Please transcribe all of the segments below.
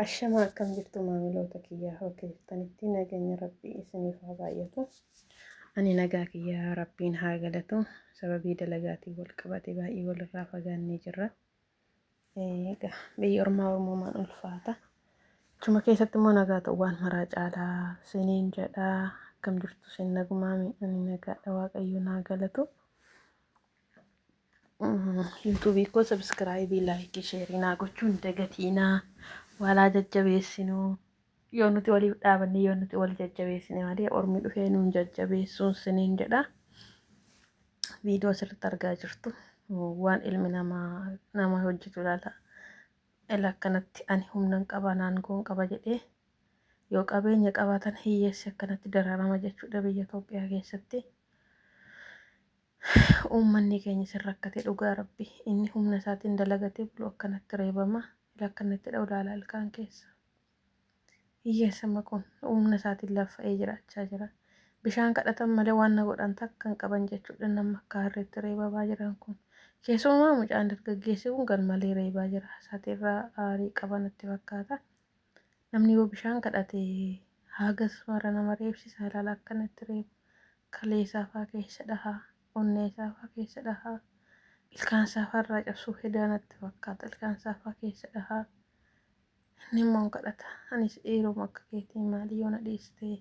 Ashamaa akkam jirtu maamiloota kiyyaa bakka jirtanitti nageenya rabbii isiniif haa baay'atu. Ani nagaa kiyyaa rabbiin haa galatu sababii dalagaatiin wal qabate baay'ee walirraa fagaannee jirra. Egaa biyyi ormaa ormumaan ulfaata. Achuma keessatti immoo nagaa ta'u waan maraa caalaa siniin jedha akkam jirtu sin nagumaami ani nagaadha waaqayyoon haa galatu. Yuutuubii koo sabiskiraayibii laayikii sheerii naa gochuu hin dagatiinaa walaa jajjabeessinuu yoo nuti waliif dhaabanne yoo nuti wal jajjabeessine malee ormi dhufee nuun jajjabeessuun siniin jedha viidiyoo sirriitti argaa jirtu waan ilmi namaa nama hojjetu ilaala ila akkanatti ani humnan qaba naangoon qaba jedhee yoo qabeenya qabaatan hiyyeessi akkanatti dararama jechuudha biyya Itoophiyaa keessatti. Uummanni keenya sin rakkate dhugaa rabbi inni humna isaatiin dalagatee bulu akkanatti reebama ila akkanatti dha'u laala ilkaan keessa hiyyeessa maquun humna isaatiin laffa'ee jiraachaa jira bishaan kadhatan malee waan na godhan takka hin qaban jechuudhaan nama akka harreetti reebamaa jiran kun keessumaa mucaan dargaggeessi kun garmalee reebaa jira isaati irraa aarii qaban itti fakkaata namni yoo bishaan kadhate haagas mara nama reebsisa ilaala akkanatti reebu kalee isaa faa keessa dhahaa, onnee isaa faa keessa dhahaa, ilkaan isaa faa irraa cabsuu hedaa natti fakkaata, ilkaan isaa faa keessa dhahaa. Inni immoo hin kadhata. Anis dhiiruma akka keetii maali yoo na dhiistee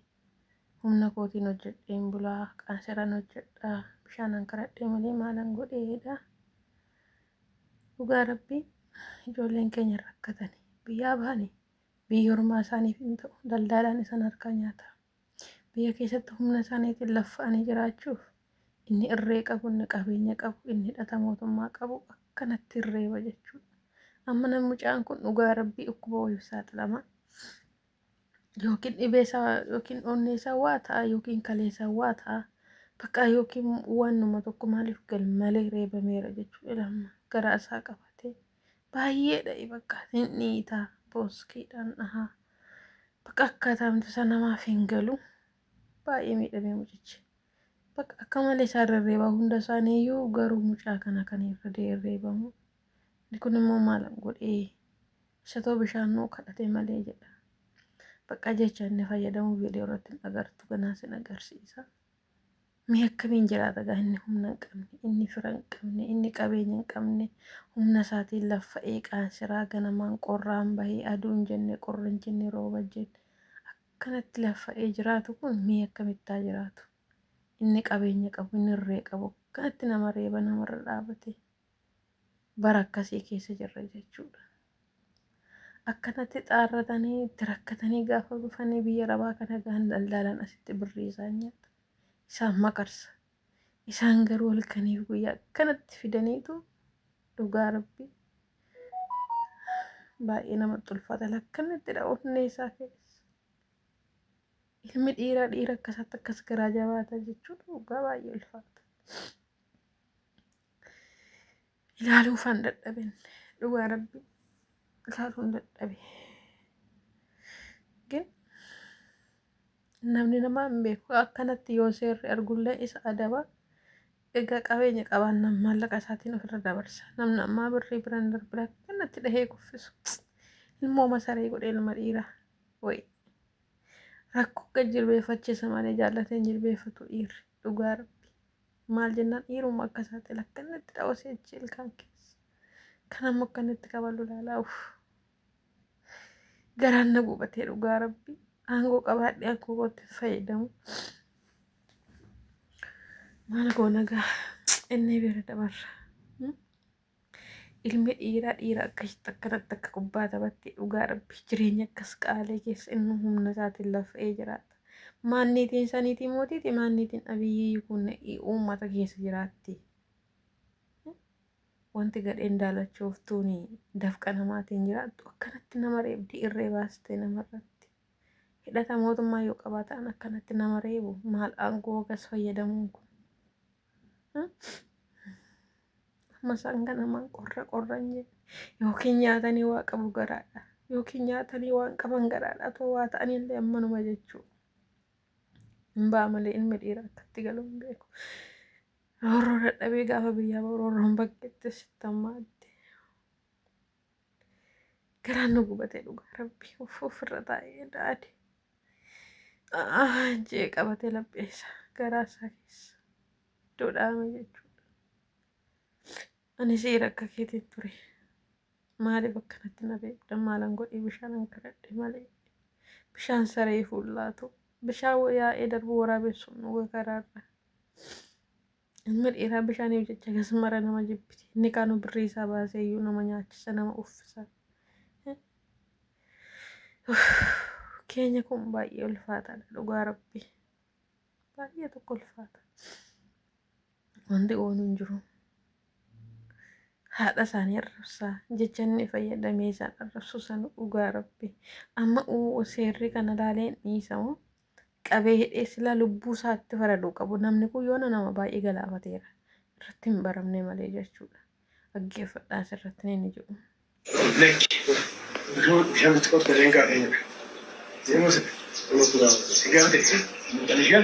humna kootiin hojjedheen bulaa, qaanseran hojjedha, bishaanan kadhadhee malee maalan godhee jedha. Dhugaa rabbii ijoolleen keenya hin rakkatani. Biyyaa bahani biyya ormaa isaaniif hin ta'u. Daldaalaan isaan harkaa nyaata. Biyya keessatti humna isaaniitiin laffa'anii jiraachuuf inni irree qabu, inni qabeenya qabu, inni hidhata mootummaa qabu akkanatti hin reeba jechuudha. Amma namni mucaan kun dhugaa rabbii dhukkuba wayiif saaxilama. Yookiin dhibee isaa yookiin onnee isaa waa ta'a yookiin kalee isaa waa ta'a. Bakka yookiin waanuma tokko maaliif gal malee reebameera jechuudha lamma garaa isaa qabatee. Baay'ee dha'i bakka hin dhiita booskeedhaan dhaha. Bakka akkaataamtu isa namaaf hin galu. Baay'ee miidhamee mucichi. Bakka akka malee isaa irra reebaa hunda isaanii iyyuu garuu mucaa kana kan irra deereebamu. Inni kun immoo maal godhee isa too bishaan nuu kadhate malee jedha. Bakka jecha inni fayyadamu viidiyoo irratti hin agartu ganaa sin agarsiisa. Mee akkamiin jiraata gaa inni humna hin qabne, inni fira hin qabne, inni qabeenya hin qabne, humna isaatiin laffa eeqaan siraa ganamaan qorraan bahee aduun jenne qorri hin jenne rooba hin jenne akkanatti laffa'ee jiraatu kun mee akkamittaa jiraatu? Inni qabeenya qabu, inni irree qabu akkanatti nama reeba namarra dhaabatee. bara akkasii keessa jirra jechuudha. Akkanatti xaarratanii itti rakkatanii gaafa dhufanii biyya arabaa kana gahan daldaalaan asitti birrii isaan nyaata. Isaan makarsa. Isaan garuu halkaniif guyyaa akkanatti fidaniitu dhugaa rabbi baay'ee namatti ulfaata lakkannettidha onnee isaa keessa. Ilmi dhiiraa dhiira akkasaatti akkas garaa jabaata jechuun dhugaa baay'ee ulfaata. ilaaluu faan dadhaben dhugaa rabbi ilaaluun dadhabe gin namni namaa hin beeku akkanatti yoo seerri argullee isa adaba egaa qabeenya qabaannaan maallaqa isaatiin ofirra dabarsa namni ammaa birrii bira hin darbine akkanatti dhahee kuffisu ilmoo masaree godhe ilma dhiiraa wayi rakkoo gad jilbeeffachiisa malee jaallatee hin jilbeeffatu dhiirri dhugaa rabbi Maal jennaan dhiiruma akka isaati lakkanatti dhawasee achi ilkaan keessa. Kan amma akkanatti kabalu laalaa uff. Garaan na gubatee dhugaa rabbi. Aangoo qabaadhee aangoo kootti hin fayyadamu. Maal goona gaa inni bira dabarra. Ilmi dhiiraa dhiira akkasitti akkanatti akka kubbaa taphatti dhugaa rabbi jireenya akkas qaalee keessa inni humna isaatiin lafee jiraata. Maanniitiin saniitii mootiiti maanniitiin abiyyii kun uummata keessa jiraatti. Wanti gadheen daalachooftuun dafqa namaatiin jiraattu akkanatti nama reebdi irree baastee namarratti. Hidhata mootummaa yoo qabaatan akkanatti nama reebu maal aangoo gas fayyadamuun kun. Masaan kana maan qorra qorra hin jedhe yookiin nyaatanii waa qabu garaadha yookiin nyaatanii waan qaban garaadha otoo waa ta'anii illee ammanuma jechuu hin ba'a malee ilmi dhiira akkatti galu hin beeku. Roorroo dadhabee gaafa biyyaa ba'u roorroon bakkeetti sittammaatti. Garaan na gubatee dhugaa rabbi of ofirra taa'ee daade. Jee qabatee laphee isaa garaa isaa keessa iddoo dhaame jechuudha. Ani seera akka keetiin ture. Maaliif akkanatti na beekta maalan godhee bishaan an kadhadhe malee. Bishaan saree fuullaatu bishaan yaa'ee darbu waraabessuun dhuga karaarra. Ilmi dhiiraa bishaaniif jecha gas mara nama jibbiti. Inni kaanuu birrii isaa baasee iyyuu nama nyaachisa nama uffisa. Keenya kun baay'ee ulfaataadha dhugaa rabbi. Baay'ee tokko ulfaata. Wanti oolu hin jiru. Haadha isaanii arrabsaa jecha inni fayyadamee isaan arrabsu san dhugaa rabbi. Amma uu seerri kana laalee dhiisamu qabee hidhee silaa lubbuu isaatti faraduu qabu namni kun yoona nama baay'ee galaafateera irratti hin baramne malee jechuudha dhaggeeffadhaa asirratti ni inni jedhu. Lakki yoo bishaan itti qotta illee hin qaadee jedha. Deemus nama turaa si gaafate mucaan ishee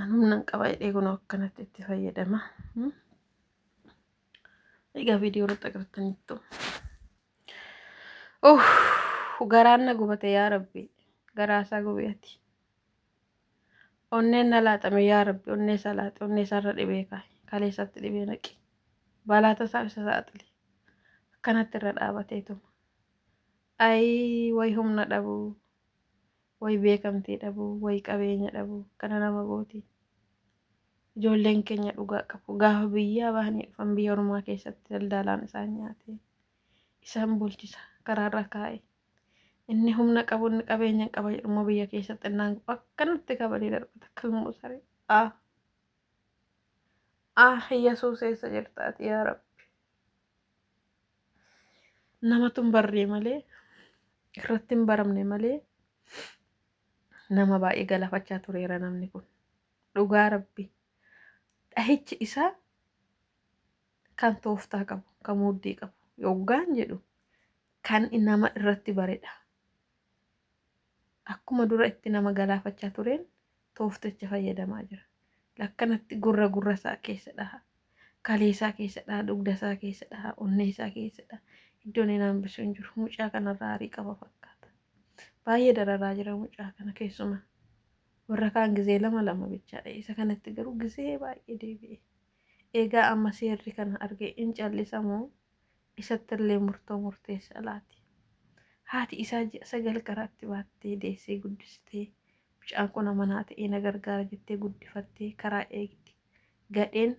An humna hin qaba jedhee kun akkanatti itti fayyadama. Egaa viidiyoo irratti agartaniittu. Oh, garaan na gubate yaa rabbi. Garaa isaa gubeeti. Onneen na laaxame yaa rabbi. Onnee isaa laaxe. Onnee isaa irra dhibee kaa'i. Kalee isaatti dhibee naqi. Balaata isaa isa saaxile. Akkanatti irra dhaabateetuma. Ayii way humna dhabuu. Way beekamtii dhabuu way qabeenya dhabuu kana nama gooti ijoolleen keenya dhugaa qabu gaafa biyyaa bahanii dhufan biyya ormaa keessatti daldaalaan isaan nyaate isaan bulchisa karaarra kaa'e inni humna qabu inni qabeenya qaba jedhummoo biyya keessatti innaan akkanatti kabalee darbata kalmoo saree a a yesuus eessa jirtaati yaa rabbi namatu hin barree malee irratti hin baramne malee nama baay'ee galafachaa tureera namni kun dhugaa rabbi dhahichi isaa kan tooftaa qabu kan muddii qabu yoggaan jedhu kan nama irratti baredha akkuma dura itti nama galaafachaa tureen toofticha fayyadamaa jira. Lakkanatti gurra gurra isaa keessa dhaha. Kalee isaa keessa dhaha, dugda isaa keessa dhaha, onnee isaa keessa dhaha. Iddoon inni hambisu hin jiru. Mucaa kanarraa aarii qaba fakkaata. Baay'ee dararaa jira mucaa kana keessuma. Warra kaan gizee lama lama bichaadha. Isa kanatti garuu gizee baay'ee deebi'e. Egaa amma seerri kana argee in callisa moo Isattillee murtoo murteessaa laati. Haati isaa ji'a sagal karaatti baattee deessee guddiste. Mucaan kun amanaa ta'ee na gargaara jettee guddifattee karaa eegdi. Gadheen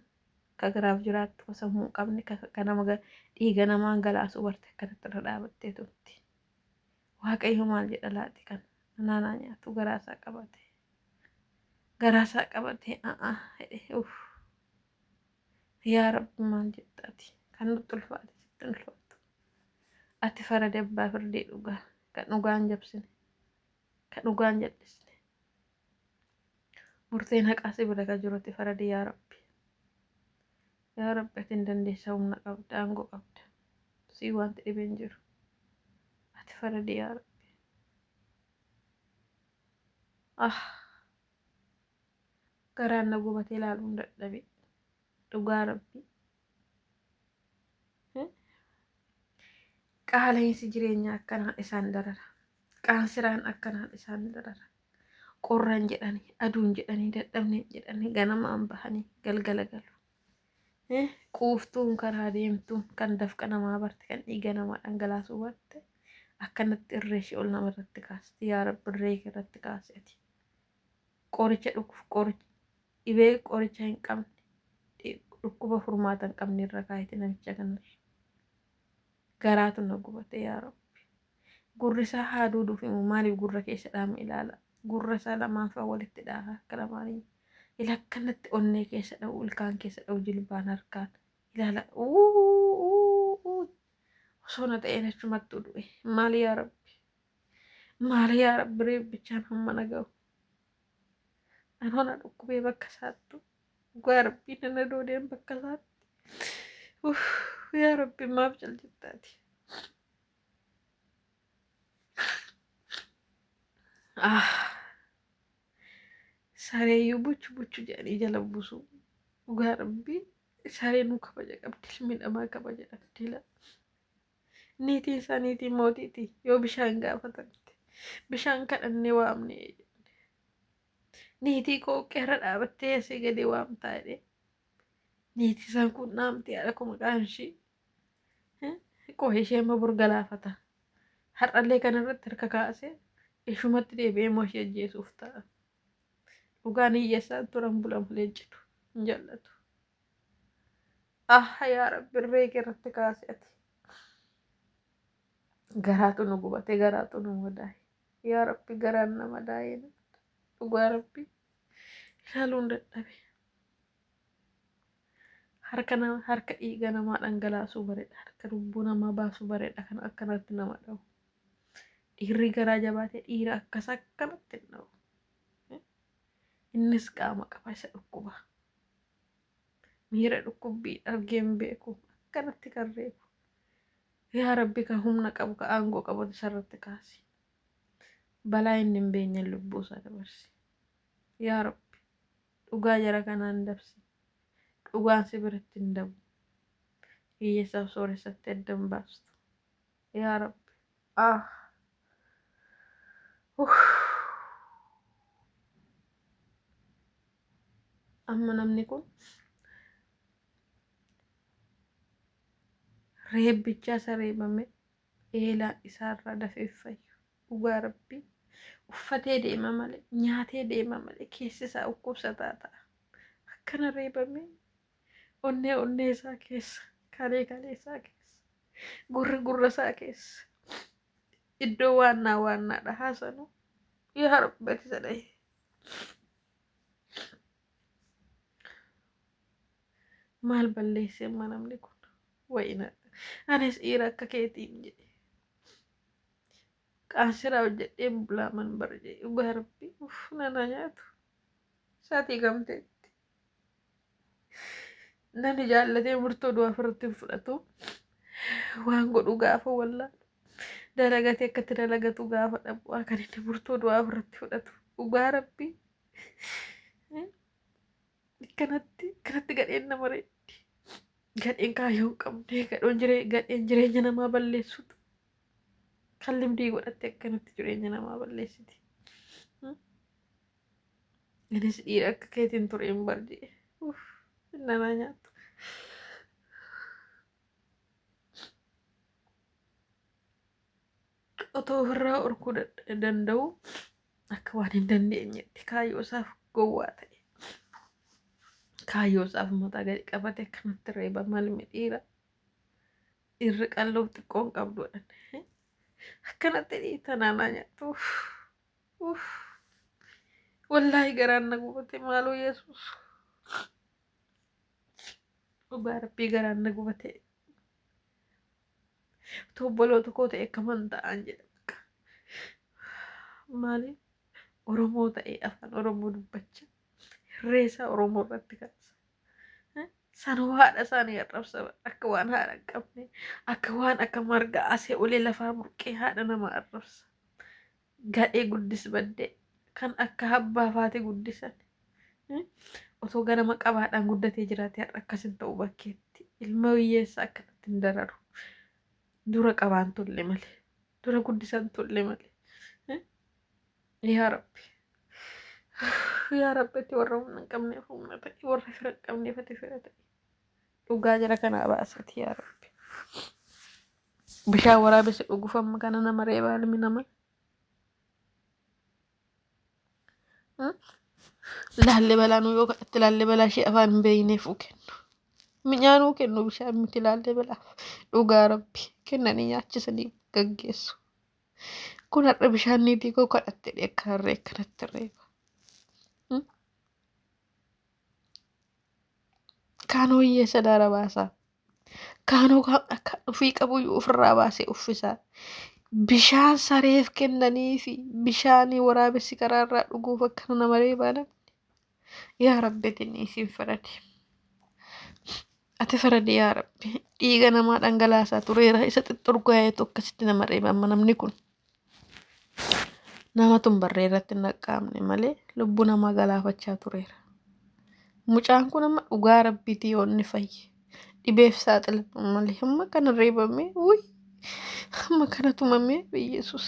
ka garaaf jiraattu, ka sammuu hin qabne, ka ka nama ga dhiiga namaa angalaasuu barte akkanatti irra dhaabattee turte. Waaqayyo maal jedha laati kan anaa naa nyaatu garaa isaa qabate. Garaa isaa qabatee a'aa jedhee uff. Yaa Rabbi maal jetta ati kan nutti ulfaate sitti hin ulfaatu. Ati faradi abbaa firdii dhugaa kan dhugaan jabsine kan dhugaan jallisne. Murteen haqaa si bira ka jiru ati faradi yaa Rabbi. Yaa Rabbi ati hin dandeessa humna qabda aangoo qabda. Sii wanti dhibe hin jiru. Ati faradi yaa Rabbi. Ah! Garaan na gubatee laaluun dadhabe dhugaa rabbi qaala'insi jireenyaa akkanaan isaan darara qaansiraan akkanaan isaan darara qorran jedhanii aduun jedhanii dadhabneen jedhanii ganamaan bahanii galgala galu Eh, quuftuun karaa deemtuun kan dafqa namaa barte kan dhiiga namaa dhangalaasuu barte akkanatti irree ishee ol nama irratti kaasti yaa rabbi irree kee irratti kaasi ati Qoricha dhukkuf qoricha dhibee qoricha hin qabne dhi- dhukkuba furmaata hin qabne irra kaayite namicha kanarra. Garaatu na gubate yaa rabbi. Gurri isaa haa duuduuf immoo maaliif gurra keessa dhaame ilaala. Gurra isaa lamaan faa walitti dhaha harka lamaanii. Ila akkanatti onnee keessa dha'u ilkaan keessa dha'u jilbaan harkaan ilaala. Uuu uuu uuu osoo na ta'een achumattuu du'e maal yaa rabbi. Maali yaa rabbi reebbichaan hamma na gahu. Anoo na dhukkubee bakka isaattu. Dhugaa rabbii na na doodeen bakka isaatti. Uff, Yaa rabbi maaf caljittaati. Ah. Sareeyyuu buchu buchu jedhanii jala buusu. Dhugaa rabbii saree nu kabaja qabdi ilmi namaa kabaja dhabdi laa. Niitiin isaa niitii mootiiti yoo bishaan gaafatamte bishaan kadhannee waamne niitii koo qeerra dhaabattee asii gadi waamtaa jedhee niitii isaan kun naamtii haadha koo maqaan ishii qoo ishee immoo bor galaafata har'allee kana irratti harka kaasee ishumatti deebi'ee immoo ishee ajjeesuuf ta'a dhugaan hiyyeessaan turan bulamu leencitu hin jallatu. Aha yaa rabbi irree kee irratti kaasi ati. Garaatu nu gubate garaatu nu madaaye. Yaa rabbi garaan na madaaye na. Dhugaa rabbi ilaaluun dadhabe. Harka nama harka dhiiga namaa dhangalaasuu bareeda. Harka lubbuu namaa baasuu bareeda kan akkanatti nama dhawu. Dhiirri garaa jabaate dhiira akkas akkanatti hin dhawu. Innis qaama qaba isa dhukkuba. Miira dhukkubbii argee hin beeku. Akkanatti kan reebu. Yaa Rabbi ka humna qabu ka aangoo qabatu isarratti kaasi. Balaa inni hin beenyeen lubbuu isaa dabarsi. Yaa Rabbi dhugaa jara kanaa hin dabsin. Dhugaan si biratti hin dabu. Hiyyeessaaf sooressatti adda hin baastu. Yaa Rabbi. Ah. Uff. Amma namni kun reebbichaa isa reebame eelaa isaarraa dafee fayyu dhugaa rabbii uffatee deema malee nyaatee deema malee keessi isaa dhukkubsataa ta'a akkana reebamee onnee onnee isaa keessa kalee kalee isaa keessa gurra gurra isaa keessa iddoo waannaa waannaadha haasanu yaa rabbi ati isa dhahi maal balleessee amma namni kun wayina anis dhiira akka keetiin jedhe qaansiraa hojjedheen bulaaman barjee dhugaa rabbi uff nana nyaatu saatii gamteetti Nani jaallatee murtoo du'aa ofirratti hin fudhatu. Waan godhu gaafa wallaa. Dalagatee akkatti dalagatu gaafa dhabu kan inni murtoo du'aa ofirratti fudhatu. Dhugaa rabbii. Kanatti kanatti gadheen nama reetti. Gadheen kaayyoo hin qabne gadhoon jiree gadheen jireenya namaa balleessutu. Kan limdii godhatte akkanatti jireenya namaa balleessiti. Anis dhiira akka keetiin ture hin barje. Uff, nanaa nyaattu. Otoo ofirraa orkuu dad- danda'u akka waan hin dandeenyetti kaayyoo isaaf gowwaa ta'e. Kaayyoo isaaf mataa gadi qabate akkanatti reeba malmi dhiira. Dhiirri qalloof xiqqoon qabdu jedhan. Akkanatti dhiita nanaa nyaattu. Uff, Uff. Wallaahi garaan na gubate maaloo Yesuus. Dhugaa rabbii garaan na gubate. Utuu obboloota koo ta'e akkaman ta'an jedha. bakka. Maaliif Oromoo ta'ee afaan Oromoo dubbacha reesaa Oromoo irratti kaasa. Sanuu haadha isaanii arrabsa akka waan haadha hin qabne akka waan akka marga asee olee lafaa burqee haadha nama arrabsa. Gadhee guddis baddee kan akka abbaa faate guddisan. Otoo ganama qabaadhaan guddatee jiraate har'a akkas hin ta'u bakkeetti ilma hiyyeessa akkanatti hin dararu. Dura qabaan tolle malee dura guddisan tolle malee. Yaa Rabbi. Yaa Rabbi itti warra humna hin qabneef humna ta'i. Warra fira hin qabneef ati fira ta'i. Dhugaa jara kanaa baasiti yaa Rabbi. Bishaan waraabessi dhuguuf amma kana nama reebaa ilmi namaa. Hmm? Laallee balaa nuu yoo kadhatte laallee balaa ishee afaan hin beekneef uu kennu. Mi'aa nuu kennu bishaan miti laallee balaa. Dhugaa Rabbi kennanii nyaachisanii gaggeessu. Kun har'a bishaan niitii koo kadhatte jedhee akka harree akkanatti reeba. Kaanoo hiyyeessa daara baasaa. Kaanoo gaafna akka dhufii qabu iyyuu ofirraa baasee uffisaa. Bishaan sareef kennanii fi bishaan waraabessi karaarraa dhuguuf akkana nama reebaa namni. yaa rabbi atinni isin faradi ati faradi yaa rabbi dhiiga namaa dhangalaasaa tureera isa xixxurgaayeetu akkasitti nama reeba amma namni kun namatun barree irratti hin dhaqqaamne malee lubbuu namaa galaafachaa tureera mucaan kun amma dhugaa rabbiiti yoo inni fayye dhibeef saaxilamu malee amma kana reebamee wuy amma kana tumamee biyyeesuus